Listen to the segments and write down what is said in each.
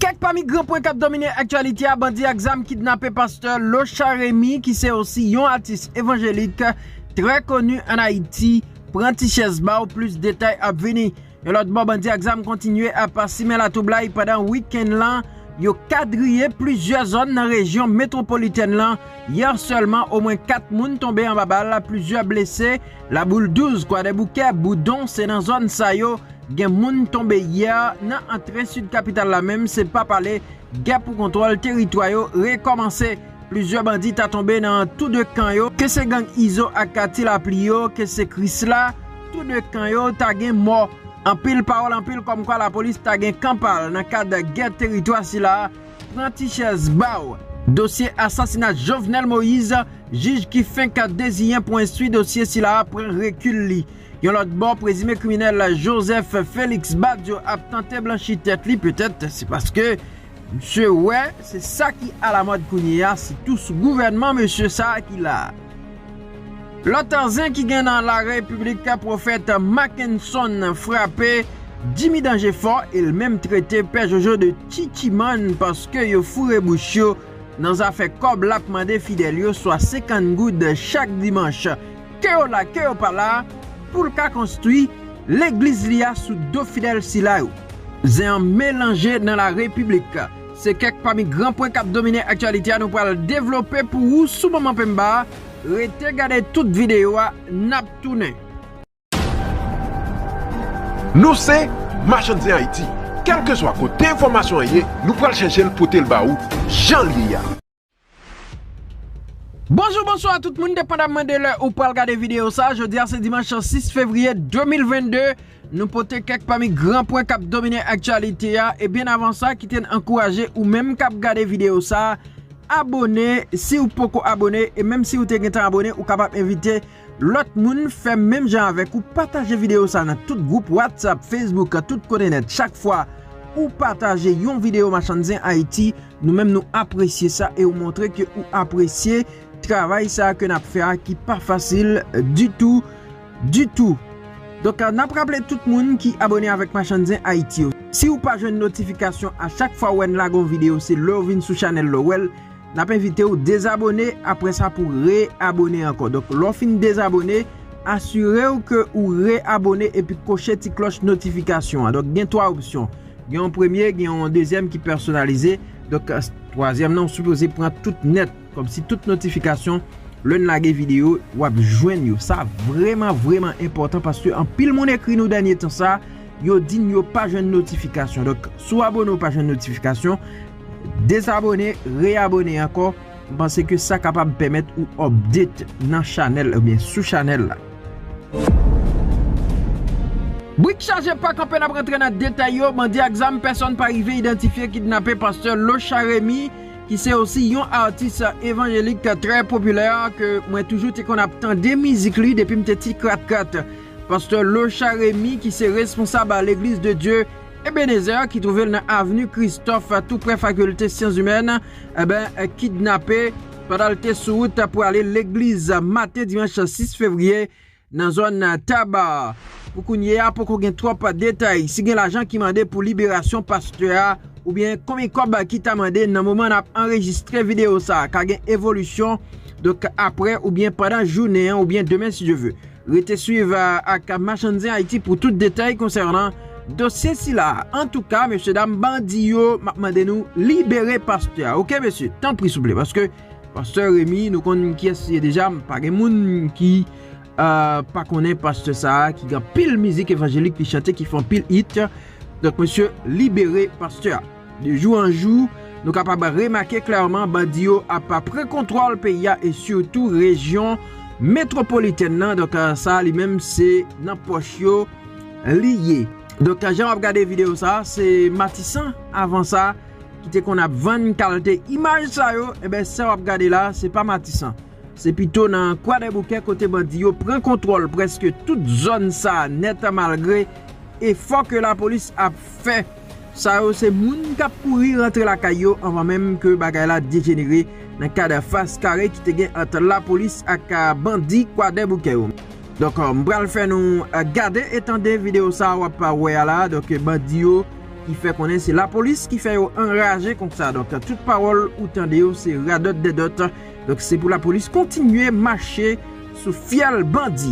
Kèk pami gran pwen kap domine aktyalite a, bandi ak zam kidnape pastè Lochard Remy ki se osi yon atis evanjelik trè koni an Ayiti, pran ti chèz ba w plis detay ap vini. Yon lòt bò bandi ak zam kontinye ap simen latwoublay pandan wikenn lan, yo kadriye plizyè zòn nan rejyon metwopolitèn lan, yè sèlman omwen 4 moun tonbe anba bal, plizyè blese. Laboul 12, Kwadèboukè, Boudon se nan zòn sa yo gen moun tonbe yè nan antre sid kapital la menm se pa pale, gè pou kontwòl teritwa yo rekòmanse. Plizyè bandi ta tonbe nan tou 2 kan yo, ke se gang Izo ak Ti Lapli yo, ke se Krisla, tou 2 kan yo ta gen mò. Anpil pawòl anpil kòmkwa lapolis ta gen kan pa l nan kad gè teritwa sila. Pran ti chèz ba w! Dosye asasina Jovenel Moïse, jij ki fenk deziyen pou enstwi dosye sila a pran rekil li. Yon lòt bò, prezime kriminèl Joseph Felix Badio ap tante blanchi tèt li petèt se paske msye wè se sa ki alamòd kounye a sitou sou gouvènman mesye sa ki la. Lòt zen ki gen nan la repiblik pwofèt makenson frape Jimmy danje fò el menm trete pè jojo de chichimann paske yo foure bouch yo nan zafè kòb lap mande fidèl yo swa 50 goud chak dimanch ke yo la ke yo pa la poul ka konstwi legliz li a sou do fidèl sila yo. Zen an melanje nan la repiblik. Se kèk pami gran pwen k ap domine aktyalite a nou pral devlope pou ou sou moman penmba a, rete gade tout videyo a n ap tounen. Nou se Machann Zen Ayiti, kèlkeswa kote enfòmasyon an ye nou pral chèche l pote l ba ou jan l ye a. Bonjou bonswa tout moun depandamman de lè ou pral gade videyo sa jodia se dimanch 6 fevriye 2022 nou pote kèk pami gran pwen kap domine aktyalite a e byen avan sa kite n ankouraje ou menm kap gade videyo sa abone si ou poko abone e menm si ou te gentan abone ou kapab envite Lòt moun fè menm jan avèk ou pataje video sa nan tout group whatsapp facebook tout kote nèt chak fwa ou pataje yon video machann zen ayiti nou menm nou apresye sa e ou montre ke ou apresye travay sa ke nap fè a ki pa fasil ditou ditou donk nap raple tout moun ki abone avèk machann zen ayiti yo si ou pa jwenn notifikasyon a chak fwa ou wèn lage yon video se lèw vin sou chanèl la ou wèl. Nap envitew dezabone apre sa pou re abone anko donk lè w fin dezabone asirew ke ou re abone epi koche ti kloch notifikasyon an donk gen 3 opsyon gen yon premye gen yon dezyèm ki pèsonalize donk twazyèm nan ou sipoze pran tout nèt kòmsi tout notifikasyon lè n lage videyo wap jwenn yo sa vreman vreman enpòtan paske anpil moun ekri nou dènye tan sa yo di n yo pa jwenn notifikasyon donk si w abone ou pa jwenn notifikasyon. Dezabone, reabone ankò, m panse ke sa kapab pèmèt ou update nan chanèl oubyen sou chanèl la. Brik chaje pa kanpe nap rantre nan detay yo, bandi ak zam pèsòn pa rive idantifye kidnape pastè Locha Remy ki se osi yon atis evanjelik trè popilè ke mwen toujou te konn ap tande mizik li depim te ti krat krat. Pastè Locha Remy ki se responsab L'Eglise de Dieu Ebenezer ki twouve l nan avni Kristòf toupre Fakilte Syanzimèn ben kidnape pandan l te sou wout pou ale legliz maten dimanch 6 fevriye nan zòn Taba. Pou kounye a poko gen twòp detay si gen lajan ki mande pou liberasyon pastè a oubyen konbyen kòb ki ta mande nan moman n ap anrejistre videyo sa ka gen evolisyon donk aprè oubyen pandan jounen an oubyen demen si Dye ve. Rete swiv ak Machann Zen Ayiti pou tout detay konsènan dosye sila a. Antouka mesye dam bandi yo m ap mande nou libere pastè a ok mesye tanpri souple paske pastè Remy nou konn kiyès li ye deja pa gen moun ki pa konnen pastè sa a ki gen anpil mizik evanjelik li chante ki fè anpil it donk mesye libere pastè a. De jou an jou, nou kapab remake klèman bandi yo ap pran kontwòl peyi a e sitou rejyon metwopolitèn nan, donk sa a li menm se nan pòch yo li ye. Donk jan w ap gade videyo sa a, se Matisan avan sa ki te konn ap vann kalte imaj sa yo, enben sa w ap gade la a se pa Matisan, se pito nan Kwadèboukè kote bandi yo pran kontwòl prèske tout zòn sa a nèt malgre efò ke lapolis ap fè. Sa yo se moun kap kouri rantre lakay yo anvan menm ke bagay la dejenere nan kad fas kare ki te gen ant lapolis ak bandi kwadèboukè yo. Donk m pral fè nou gade e tande video sa wap wè a la donk bandi yo ki fè konnen se lapolis ki fè yo anraje konsa donk tout pawòl ou tande yo se radòt dèdòt donk se pou lapolis kontinye mache sou fyèl bandi.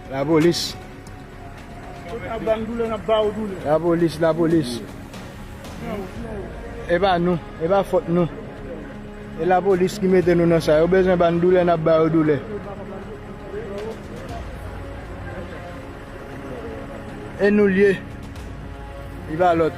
La polis. Ou ta bann doulè nap ba ou doulè. La polis la polis. E pa nou, e pa fòt nou. E la polis ki mete nou nan sa. Yo bezwen bann doulè nap ba ou doulè. E nou lye. Li pa lòt.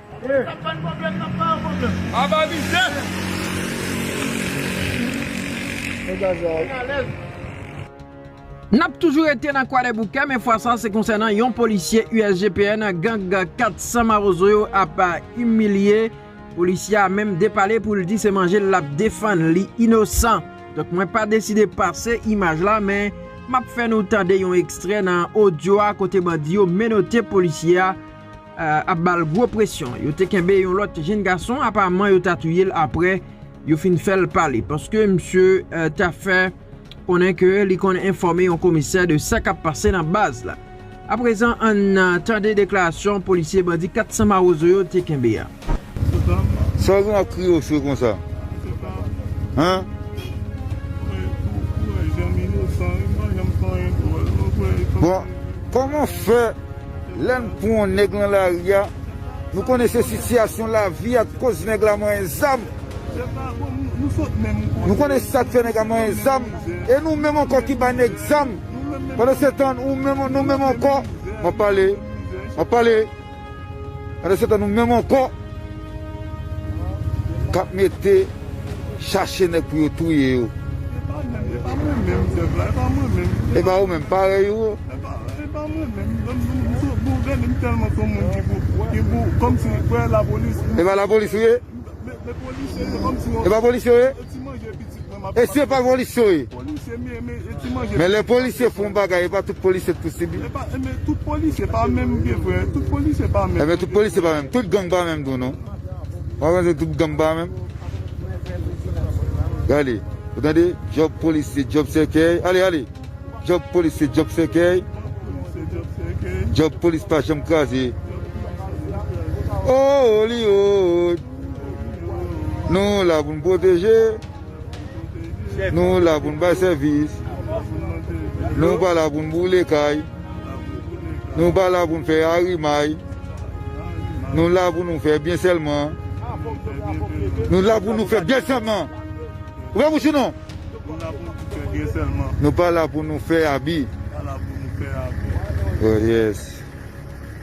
N ap toujou rete nan Kwadèboukè men fwa sa se konsènan yon polisye USGPN gang 400 mawozo yo ap imilye. Polisye a menm depale pou l di se manje l ap defann, li inosan. Donk mwen pa deside pase imaj la men m ap fè nou tande yon ekstrè nan odyo a kote bandi yo menote polisye a. ap ba l gwo presyon. Yo te kenbe yon lòt jenn gason, apaman yo ta touye l aprè yo fin fè l pale paske misye ta fè konnen ke li konn enfòme yon komisè de sa k ap pase nan baz la. Aprezan ann tande deklarasyon polisye bandi 400 mawozo yo te kenbe a. Sa w gen ak kriye w swe konsa? Bon, kòman w fè lè n pran yon nèg lan lari a, nou konnen se sitiyasyon lavi a k koz nèg la manyen zam, nou konnen sa k fè nèg la manyen zam, e nou menm ankò ki bay nèg zam, pandansetan nou menm ankò, m ap pale, m ap pale. Pandan se tan nou menm ankò kap mete chache nèg pou yo touye yo. Epa ou menm parèy ou yo. Epa lapolis ou ye. Epa polisye ou ye. E si yo pa polisye e? Polisye men men e ti manje. Men lè polisye fon bagay e pa tout polisye pou sibi. E pa e men tout polisye pa menm vye vre tout polisye pa menm. E men tout polisye pa menm tout gang pa menm tou non. Ou pa panse tout gang pa menm. Gade ou tande job polisye job sèkèy ale ale job polisye job sèkèy job polisye pa janm kraze ooh li ooh. Nou la pou n pwoteje, nou la pou n bay sèvis, nou pa la pou n boule kay, nou pa la pou n fè arimay, nou la pou nou fè byen sèlman, nou la pou nou fè byen sèlman, nou pa la pou nou fè abi.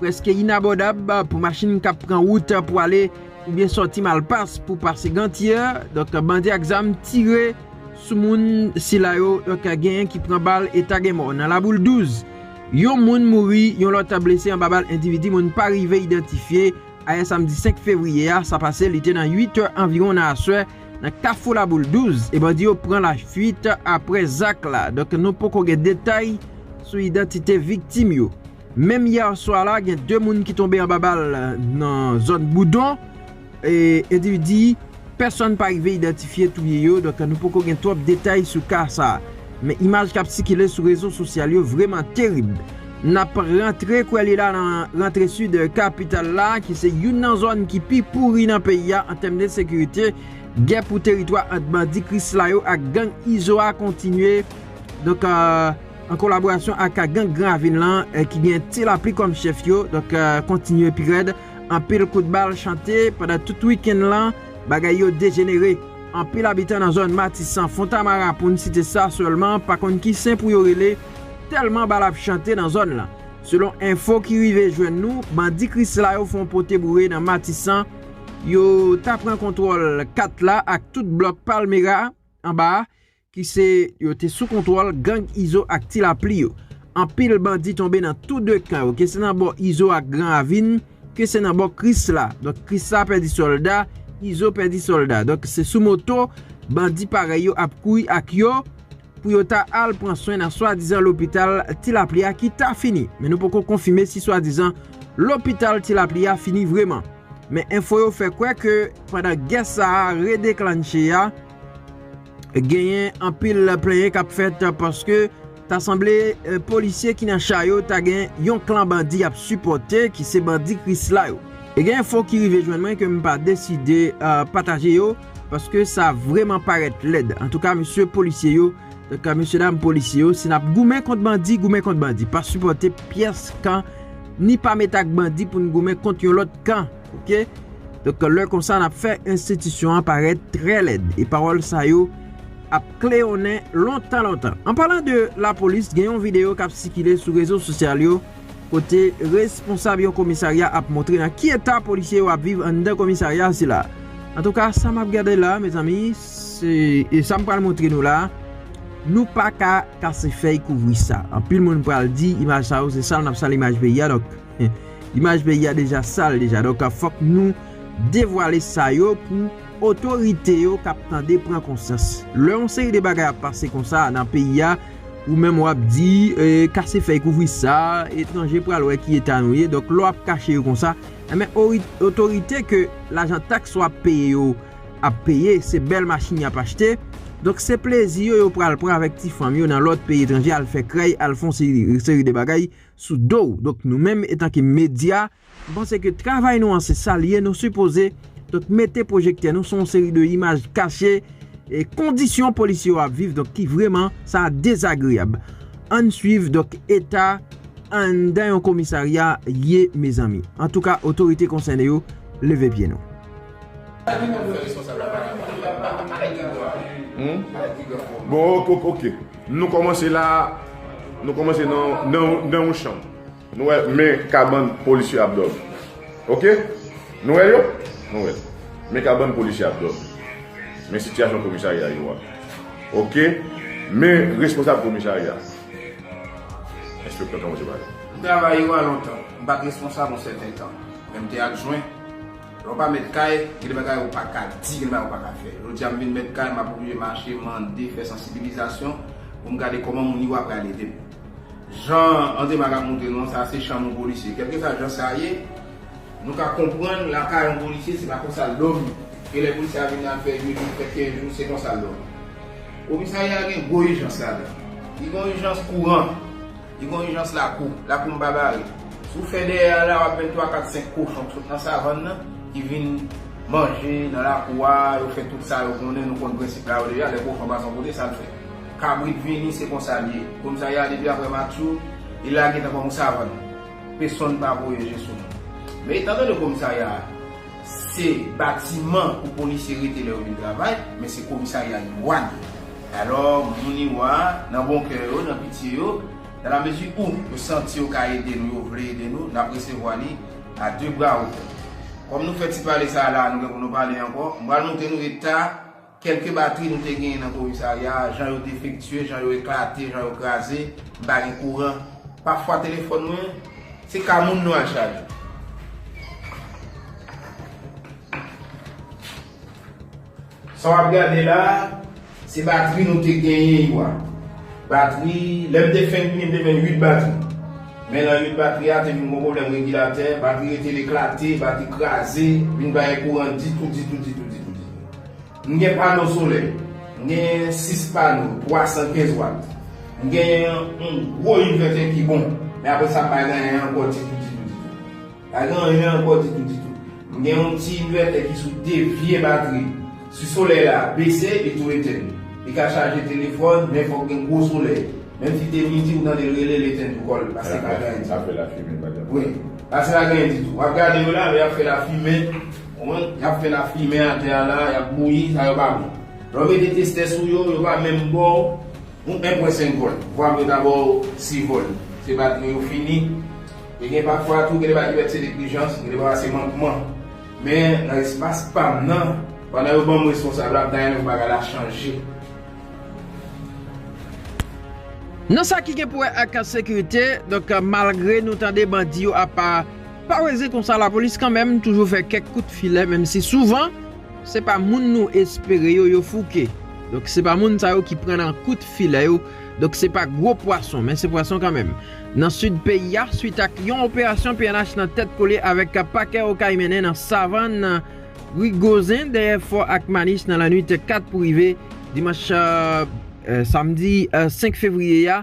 Prèske inabòdab pou machin k ap pran wout pou ale oubyen sòti Malpas pou pase Gantye, donk bandi ak zam tire sou moun sila yo, donk genyen ki pran bal eta gen mò. Nan Laboul 12, yon moun mouri, yon lòt blese anba bal endividi moun pa rive idantifye, ayè samdi 5 fevriye a, sa pase li te nan 8 è anviwon nan aswè nan kafou Laboul 12 e bandi yo pran lafuit aprè zak la, donk nou poko gen detay sou idantite viktim yo. Menm yè swa la gen 2 moun ki tonbe anba bal nan zòn Boudon, endividi pèsòn pa rive idantifye touye yo, donk nou poko gen twòp detay sou ka sa. Men imaj kap sikile sou rezo sosyal yo vreman terib. Nap rantre kwè li la nan rantre sid kapital la ki se youn nan zòn ki pi pouri nan peyi a an tèm de sekirite, gè pou teritwa ant bandi krisla yo ak gang izo a kontinye. an kolaborasyon ak gang Gran Ravin lan ki gen Ti Lapli kòm chèf yo, donk kontinye pi rèd, anpil kout bal chante pandan tout wikenn lan, bagay yo dejenere, anpil abitan nan zòn Matisan, Fontamara pou n site sa sèlman pa konn ki sen pou yo rele tèlman bal ap chante nan zòn lan. Selon enfo ki rive jwenn nou, bandi Krisla yo fon pote boure nan Matisan, yo ta pran kontwòl 4 la ak tout blòk Palmera anba a, ki se yo te sou kontwòl gang Izo ak Ti Lapli yo. Anpil bandi tonbe nan tou 2 kan yo, ke se nan bò Izo ak Gran Ravin, ke se nan bò Krisla. Donk Krisla pèdi sòlda, Izo pèdi sòlda. Donk se sou moto bandi parèy yo ap kouri ak yo pou yo ta al pran swen nan swadizan lopital Ti Lapli a ki ta fini. Men nou poko konfime si swadizan lopital Ti Lapli a fini vreman. Men enfo yo fè kwè ke pandan gè sa a redeklannche a, Genyen anpil plenyen kap fèt paske ta sanble polisye ki nan cha yo ta gen yon klan bandi yap sipòte ki se bandi krisla yo. E gen enfo ki rive jwenn mwen ke m pa deside pataje yo paske sa vreman parèt lèd. Antouka mesye polisye yo, mesye dam polisye yo si nap goumen kont bandi, goumen kont bandi. Pa sipòte pyès kan ni pa met ak bandi pou n goumen kont yon lòt kan. Ok Donk lè konsa nap fè enstitisyon an parèt trè lèd e pawòl sa yo ap kleyonnen lontan lontan. An palan de lapolis gen yon videyo kap sikile sou rezo sosyal yo kote responsab yon komisarya ap montre nan ki eta polisye yo ap viv anndan komisarya sila. Antouka sa map gade la mezanmi se e sam pral montre nou la nou paka kase fèy kouvri sa. Anpil moun pral di imaj sa yo se sal nap sal imaj peyi a donk. Imaj peyi a deja sal deja donk fòk nou devwale sa yo pou otorite yo kap tande pran konsyans. Lè yon seri de bagay ap pase konsa nan peyi a ou menm wap di kase fèy kouvri sa, etranje pral wè ki eta nou ye donk lè wap kache yo konsa enben otorite ke lajan taks ou ap peye yo ap peye se bèl machin yap achte donk se plezi yo yo pral pran avèk ti fanm yo nan lòt peyi etranje al fè krèy al fon seri de bagay sou do w donk nou menm etanke medya m panse ke travay nou an se sa l ye nou sipoze donk mete pwojektè nou sou yon seri de imaj kache e kondisyon polisye yo ap viv donk ki vreman sa dezagreyab an n swiv donk eta anndan yon komisarya ye mezanmi antouka otorite konsène yo leve pye nou. Bon ok ok. Nou kòmanse la a, nou kòmanse nan yon chanm. Nou wè men kabann polisye ap dòmi. Ok? Nou wè yo? Nou wè. Men kabann polisye ap dòmi. Men sitiyasyon komisarya yo a. Ok? Men responsab komisarya. Enspektè kòmanse pale. M travay yo a lontan. M pa t responsab yon sèten tan. Men m te adjwen. Lè w pa mèt kay, gen de bagay ou pa ka di, gen de bagay ou pa ka fè. Jodi a m vin mèt kay, m ap oblije mache, mande, fè sansibilizasyon pou m gade kòman moun iwa pral ede m. Jan André Marc ap montre nou an, sa a se chanm yon polisye. Kèlkeswa jan sa ye, nou ka konprann lakay yon polisye se pa konsa l dòmi. Gen lè polisye a vin nan l fè 8 jou, l fè 15 jou, se konsa l dòmi. Komisarya a gen gwo ijans ladan l. Li gen yon ijans kouran. Li gon ijans lakou. Lakou m pa bare. Si w fè dèyè a la, w ap jwenn twa kat senk kochon k sot nan savann nan ki vin manje nan lakou a, yo fè tout sa yo konnen, nou konn prensip la yo deja, lè kochon pa son kote sa l fè? Kabrit vini, se konsa l ye. Komisarya a depi aprè matchou, li lage nan fòm yon savann. Pesonn pa voye je sou nou. Men, etan donne komisarya a. Se batiman pou polisye rete lè yo vin travay, men se komisarya Iwàn. Alò, moun Iwa, nan bon kè yo, nan pitye yo, dan la mezi ou yo santi yo ka ede nou, yo vle ede nou, nap resevwa li a de bra ouvè. Kòm nou fè ti pale sa a la a, nou gen pou nou pale ankò, m pral montre nou eta. Kèlke batri nou te genyen nan komisarya a, jan yo defektye, jan yo eklate, jan yo kraze, m pa gen kouran. Pafwa telefòn mwen, se ka moun nou al chaje. Sa w ap gade la a, se batri nou te genyen yo a. Batri, lè m te fenk vini, m te jwenn 8 batri. Men nan 8 batri a, te vin gon pwoblèm regilatè, batri rete l eklate, batri kraze, vin pa gen kouran ditou, ditou, ditou, ditou, ditou. M gen pano solè, m gen 6 pano 315 wat, m gen yon gwo invètè ki bon, men apre sa m pa gen anyen ankò ditou ditou ditou. M pa gen anyen ankò ditou ditou. M gen yon ti invètè ki sou 2 vye batri. Si solèy la bese, li tou etenn. Li ka chaje telefòn, men fòk gen gwo solèy. Menm si te midi ou tande l rele, l etenn tou kò l, paske li pa gen anyen ditou. Ap fè lafimen pa janm. Wi. Paske li pa gen anyen ditou. W ap gade yo la, men y ap fè lafimen. Konprann? Yap fè lafimen atè a la, yap bouyi, sa yo pa bon. Lè w mete testè sou yo, yo pa menm ba w yon 1 pwen 5 vòl. Vwa m yo ta ba w 6 vòl. Se batri yo fini. E gen pafwa tou, gen de bagay ki pèt se neglijans, gen de bagay se mankman. Men, nan espas pa m nan, pandan yo ban m responsab la, m ta renmen pou bagay la chanje. Nan sa ki gen pou wè ak sekirite, donk malgre nou tande bandi yo ap. Pa weze konsa lapolis kanmenm toujou fè kèk kout filè menm si souvan se pa moun nou espere yo yo fouke donk se pa moun sa yo ki pran nan kout filè yo donk se pa gwo pwason men se pwason kanmenm nan sid peyi a swit ak yon operasyon pnh nan tèt kole avèk pakè okay mennen nan savann ri gozen dèyè fò ak manis nan lanwit 4 pou rive dimanch samdi 5 fevriye a.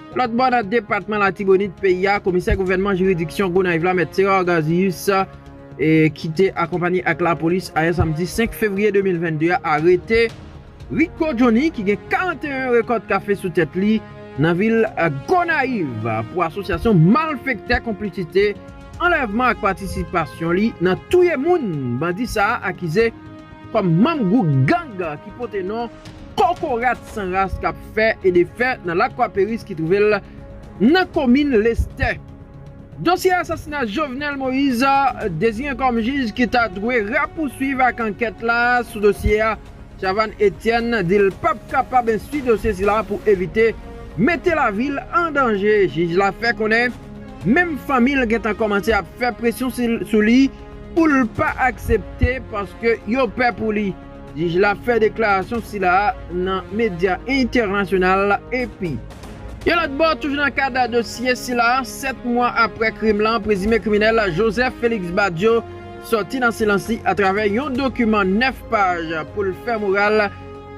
Lòt bò nan depatman Latibonit peyi a, komisè gouvènman jiridiksyon Gonayiv la mèt Serard Garzius ki te akonpanye ak lapolis ayè samdi 5 fevriye 2022 a arete Rico Johnny ki gen 41 rekòt kafe sou tèt li nan vil Gonayiv pou asosyasyon malfektè konplisite anlèvman ak patisipasyon li nan touye moun bandi sa a akize kòm manm gwoup gang ki pote non Kokorat San Ras k ap fè e defè nan Lakwa Peris ki twouve l nan komin Lestè. Dosye asasina Jovenel Moïse deziyen kòm jij ki ta dwe rapousuiv ak ankèt la sou dosye a, Chavanne Etienne di l pap kapab enstwi dosye sila pou evite mete lavi l an danje. Jij la fè konnen menm fanmi l gentan kòmanse ap fè presyon sou li. pou l pa aksepte paske yo pè pou li. Jij la fè deklarasyon sila a nan medya entènasyonal AP. Yon lòt bò, toujou nan kad dosye sila, 7 mwa aprè krim lan, prezime kriminèl Joseph Felix Badio sòti nan silans li atravè yon dokiman 9 paj pou l fè moral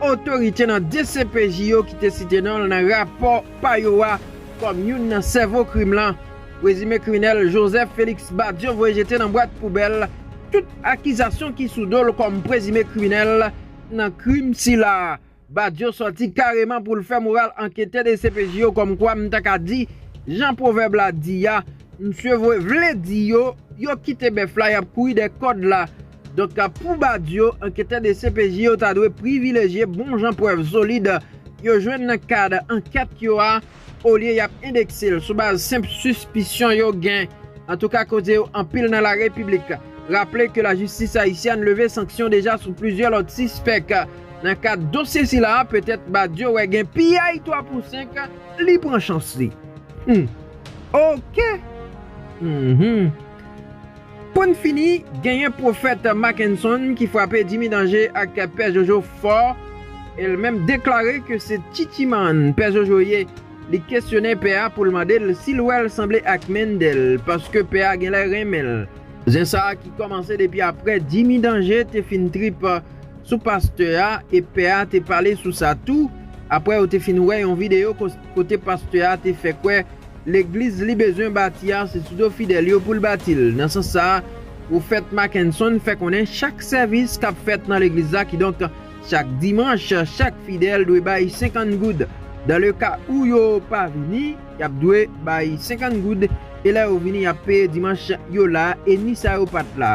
otorite nan dcpj yo ki te site non l nan rapò pa yo a kòm youn nan sèvo krim lan. Prezime kriminèl Joseph Felix Badio voye jete nan bwat poubèl tout akizasyon ki sou do l kòm prezime kriminèl nan krim sila. Badio sòti kareman pou l fè moral anketè dcpj yo kòmkwa m ta ka di jan pwovèb la di a, msye voye vle di yo, yo kite bèf la y ap kouri dèyè kòd la. Donk pou Badio, anketè dcpj yo ta dwe privilejye bon jan prèv solid yo jwenn nan kad ankèt yo a, olye y ap endekse l sou baz senp sispisyon yo gen antouka koze yo anpil nan larepiblik raple ke lajistis ayisyèn leve sanksyon deja sou plizyè lòt sispèk nan kad dosye sila petèt Badio wè gen piyay 3 pou 5 li pran chans li humm ok humm. Pou n fini, genyen pwofèt Mackenson ki frape Jimmy Danger ak Pè Jojo fò e l menm deklare ke se Titimann Pè Jojo ye. Li kesyone Pè a pou l mande l si l wè l sanble ak Mendel paske Pè a genlè renmen l. Zen sa a ki kòmanse depi aprè Jimmy Danger te fin trip sou pastè a e Pè a te pale sou sa tou aprè yo te fin wè yon videyo kote pastè a te fè kwè Legliz li bezwen bati a se sou do fidèl yo pou l bati l. Nan sans sa a, Pwofèt Mackenson fè konnen chak sèvis k ap fèt nan legliz la kidonk chak dimanch chak fidèl dwe bay 50 goud. Dan le ka ou yo pa vini, y ap dwe bay 50 goud e lè yo vini y ap peye dimanch yo la e ni sa yo pa t la.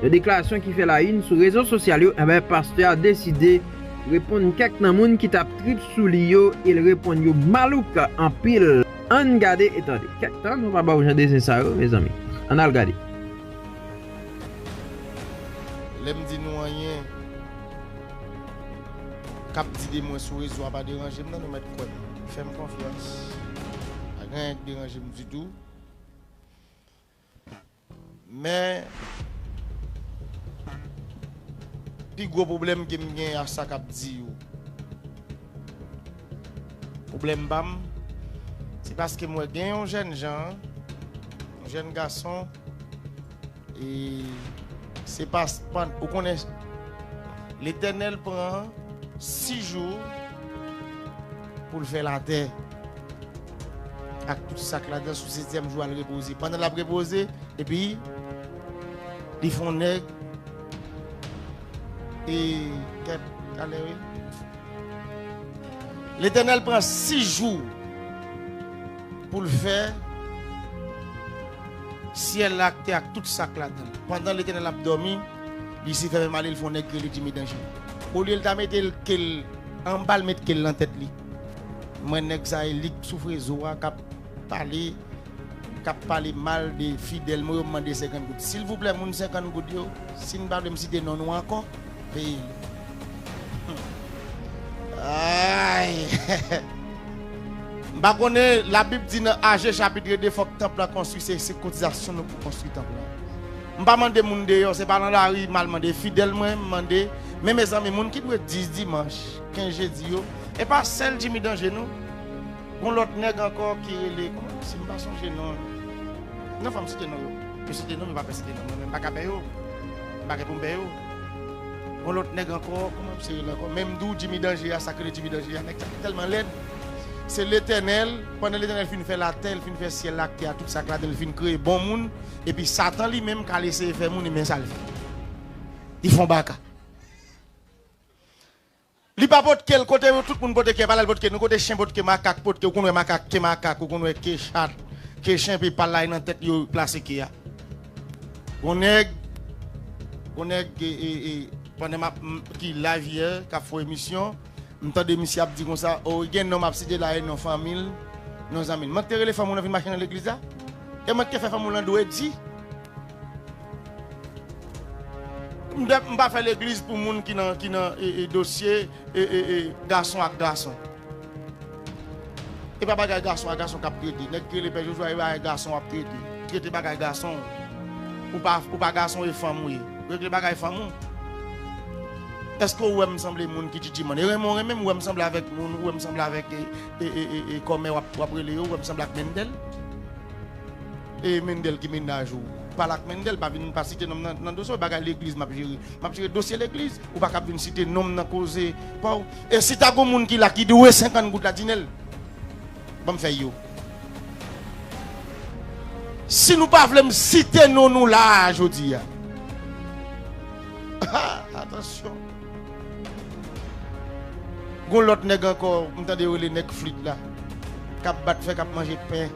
Yon deklarasyon ki fè la yn sou rezo sosyal yo enben pastè a deside reponn kèk nan moun ki tap trip sou li yo el reponn yo malouk anpil ann gade e tande kèk tan nou pa baw jan de zen sa yo mezanmi ann al gade. Lèm di nou anyen kap di de mwen sou rezo a pa deranjem nan nou mèt kwèm fèm konfyans pa gen anyen k deranjem ditou. Men pi gwo pwoblèm ke m gen a sa k ap di yo. Pwoblèm pa m, se paske m wè gen yon jèn jan, yon jèn gason, e se pa span, ou konnen Letènèl pran 6 jou pou l fè latè. ak tout sa k ladan sou setyèm jou al repoze. Pandan l ap repoze, epi li fè yon nèg e tèt ale wi. Letènèl pran sis jou pou l fè syèl la ak tè ak tout sa k ladan l. Pandan Letènèl ap dòmi, Lisifè menm ale l fè yon nèg rele Djimi Danje. Olye l ta mete l ke l anba, l met ke l nan tèt li. Mwen nèg sa elik sou frezo a kap pale kap pale mal de fidèl mwen yo m mande 50 goud silvouplè moun 50 goud yo sin pa vlem site non nou ankò peye li humm aayy m pa konnen la bib di nan aje chapitre 2 fòk tanp lan konstwi se se kotizasyon nou pou konstwi tanp lan m pa mande moun deyò se pa nan lari mal mande fidèl mwen m mande men mezanmi moun ki dwe 10 dimanch. Ken jedi yo epa sèl jimmy danje non gon lòt nèg ankò ki rele kòman yo se m pa sonje non non fòm site non yo m site non m pa vle site non mwen menm m paka bè yo m pa gen pou m bè yo gon lòt nèg ankò kòman misye rele ankò menm di w jimmy danje a sak rele jimmy danje a nèg sa tèlman lèd se letènèl pandan letènèl fin fè latè l fin fè syèl la ak tè a tout sak ladan l fin kreye bon moun epi satan li menm k al eseye fè moun e men sa l fè li fon baka. Li pa potkel kote yo tout moun pote kè pala li potke nou kote chen potke makak potke ou konn wè makak ke makak ou konn wè ke chat ke chen epi pal la e nan tèt li yo plase ke a gon nèg gon nèg pandan map ki live yè kap fò emisyon m tande misye ap di konsa o gen non map site la e non fanmil non zanmil mank te rele fanm ou lan vin mache nan legliz la e mank te fè fanm ou lan dwe di. M pa fè legliz pou moun ki nan ki nan dosye gason ak gason epa bagay gason ak gason kap trete nèg ki rele pè jojo a epa bagay gason wap trete trete bagay gason ou pa gason e fanm ou ye regle bagay fanm ou eske ou wèm sanble moun ki djidji man e renmen ou renmenm ou wèm sanble avèk moun ou wèm sanble avèk e e e kòmè wap rele yo ou wèm sanble ak mendel. E Mendel ki mennaj ou? Pale ak Mendel, pa vin pa site nonm nan nan dosye w, bagay legliz map jere. Map jere dosye legliz, ou pa kab vin site nonm nan koze pa w. E si ta gon moun ki la ki dwe 50 goud la Dinel? Banm fèy yo. Si nou pa vle m site non nou la a jodi a. Ha! Atansyon. Gon lòt nèg ankò m tande yo rele nèg flit la kap bat fè kap manje pen.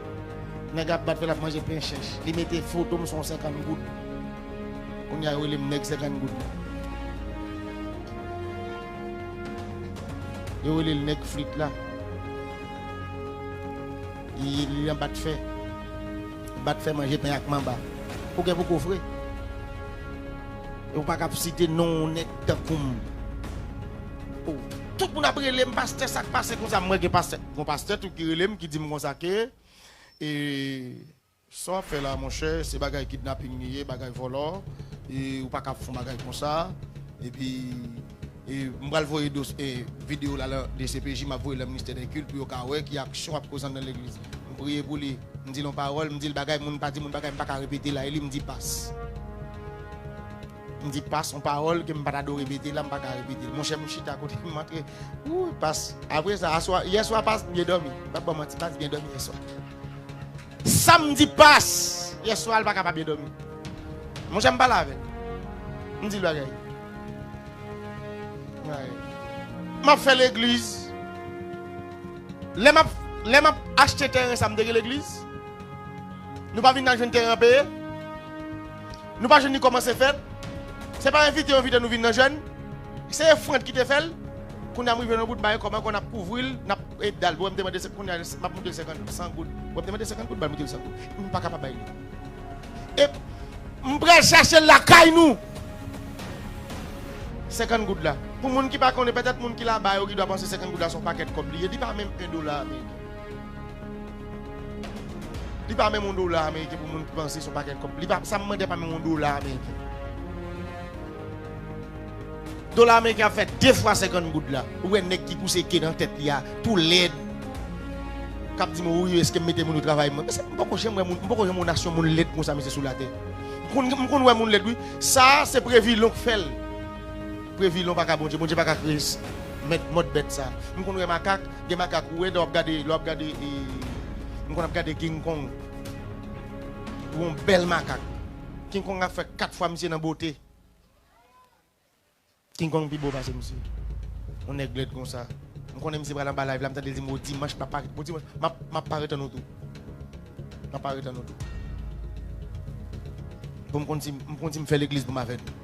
Nèg ap bat fè l ap manje pen chèch. Li mete foto m sou yon senkann goud. Kounye a yo rele m nèg senkann goud la. Yo rele l nèg flit la. Li nan bat fè. Bat fè manje pen ak manba. Ou gen pou kofre. E ou pa ka ap site non yon nèg tankou m. Tout moun ap rele m pastè sa k pase konsa. Mwen gen pastè. Gon pastè tou ki relem ki dim konsa ke e sa wap fè la monchè se bagay kidnapping li ye bagay vòlò e ou paka ap fon bagay konsa epi e m pral voye dos e video la lan dcpj map voye lan ministè dè kilt pou yo ka wè ki aksyon wap kozan nan legliz m priye pou li m dil yon paròl m dil bagay moun pa di moun bagay m paka repete la e li m di pas. M di pas on pawòl ke m pa ta do repete la m pa ka repete l monchè m chita kote m antre ooh pas apre sa aswa yèswa pas t byen dòmi m pap ba w manti pas t byen dòmi yèswa sa m di pas yèswa l pa ka pa byen dòmi monchè m pale avè l m di l bagay bagay m ap fè legliz lè m ap lè m ap achte tèren sa m te gen legliz nou pa vin nan jwenn tèren an peye. Nou pa jwenn ni koman se fet. Se pa envite yo envite nou vin nan jèn. Se efrant ki te fel. Kounya m rive nan bout baye kob anko nap kouvril nap et dal pou wem te mande se kounya map moutel 50 100 goud wem te mande 50 goud bal moutel 100 goud m paka pa bay li e m pral chachel lakay nou 50 goud la pou moun ki pa konnen petet moun ki laba yo ki dwa panse 50 goud la son paket kob li ye li pa menm 1 dola ameriken. Li pa menm yon dola ameriken pou moun ki panse se yon pakèt kòb. Li pa, sa m mande a pa menm yon dola ameriken. Dola ameriken ap fè 2 fwa 50 goud la. Ou wè nèg ki pouse ke nan tèt li a, tou lèd, k ap di m wi eske m mete moun yo travay mwen. Mesye, m poko janm wè moun, m poko janm wè yon nasyon moun lèd konsa mesye sou latè. M konn, m konn wè moun lèd wi. Sa a, se Previlon k fè l. Previlon pa ka Bondye, Bondye pa ka kreye mèt mòd bèt sa a. M konn wè makak. Gen makak ou wè lè wap gade lè wap gade e m konn ap gade king kong ou yon bèl makak king kong ap fè 4 fwa misye nan bote king kong pi bo pase misye yon nèg lèd konsa m konnen misye pral anba live la m tande l di m o dimanch m ap pare bon dimanch map map pare tann ou tou map pare tann ou tou bon m konn si m konn si m fè legliz pou m avèg.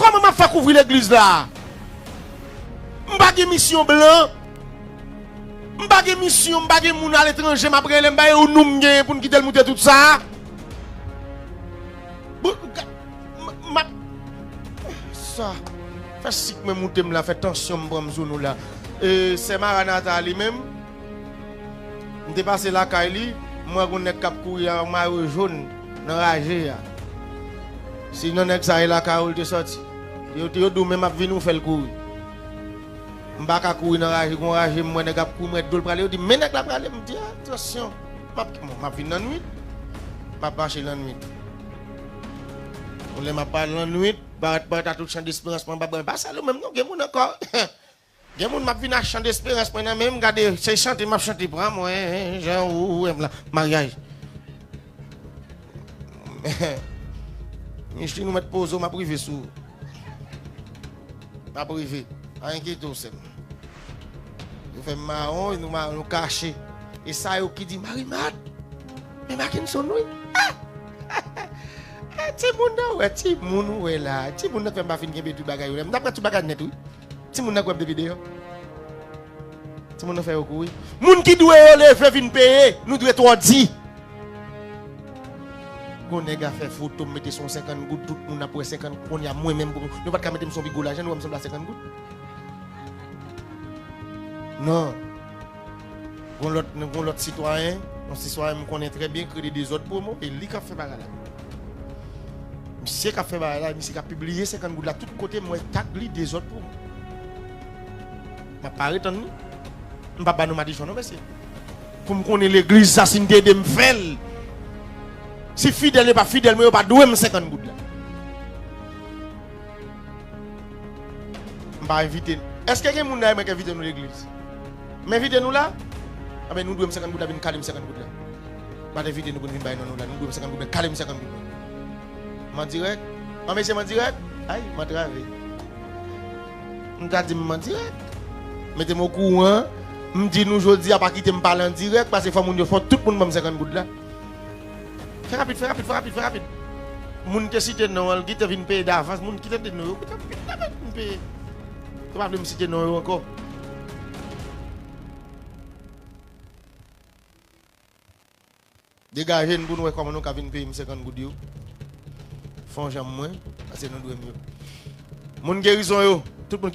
Koman map fe kouvri legliz la. M pa gen misyon blan. M pa gen misyon m pa gen moun ale tranje map rele m ba yo nou m gen pou n kite l moute tout sa. Map sa fe sik mwen moute m la fe tansyon m pran m sou nou la. E se maranata li menm. M te pase lakay li, m wè gon nèg k ap kouri ak mayo jón nan raje a. Si nan nèg sa e lakay ou l te sòti. Yo di w menm ap vini ou fè l kouri. M pa ka kouri nan raje, gon raje m wè nèg ap kouri m wè do l prale, yo di m men nèg la prale, m di a atansyon m ap vin lannwit, m ap mache lannwit. Lè m ap pale lannwit, parèt parèt a tout chandesperans m anba, m pa sal ou menm non, gen moun ankò. Gen moun map vin ak chan desperans mwen nan menm gade se chante map chante pran mwen jan ou wèm la maryaj Micheline ou mèt poze w map rive sou map rive pa enkyete w sèm yo fè m mawon nou mawon nou kache e sa yo ki di Marimar men Mackenson wi ti moun nan wè ti moun ou wè la ti moun nan fè m pa fin kenbe tout bagay yo la m ta pran tout bagay nèt wi. Timoun nan kwèm de video. Timoun nan fè yo kouri. Moun ki dwe yo leve vin peye. Nou dwe twò di. Gon nèg a fè foto m mete son 50 goud tout moun ap wè 50 kounya mwen menm pou nou pat ka mete m son pi gwo lajan nou wè m sanble a 50 goud nan. Gon lòt nou gon lòt sitwayen, yon sitwayen m konnen trè byen k rele Dezòd Promo e li k ap fè bagay la. Misye k ap fè bagay la, misye k ap pibliye 50 goud la tout kote m wè tag li Dezòd Promo. M ap pare tann li. M pa ban nou madichon non mesye. Pou m konnen legliz sa si n te ede m fè l. Si fidèl yo pa fidèl mwen yo pa dwe m 50 goud la. M pa envite nou. Èske gen moun dèyè mwen k envite nou legliz? M envite nou la? Anben nou dwe m senkant goud la vin kale m senkant goud la. M pa t envite nou pou n vin bay non nou la. Nou dwe m senkant goud la kale m senkant goud la. M an dirèk? An mesye m an dirèk? Ay! M antrave. M ta di m m an dirèk. Mete m okouran. M di nou jodi a pa kite m pale an dirèk pase fò moun yo fò tout moun ban m senkant goud la. Fè rapid, fè rapid, fè rapid, fè rapid. Moun te site non an, l gite vin peye davans. Moun ki tande nou yo, kote m peye davans pou m peye? Yo pa vle m site non yo ankò. Degaje n pou n wè kòman nou ka vin peye m 50 goud yo. Fè yon jan mwen, pase nou dwe m yo. Moun gerizon yo, tout moun.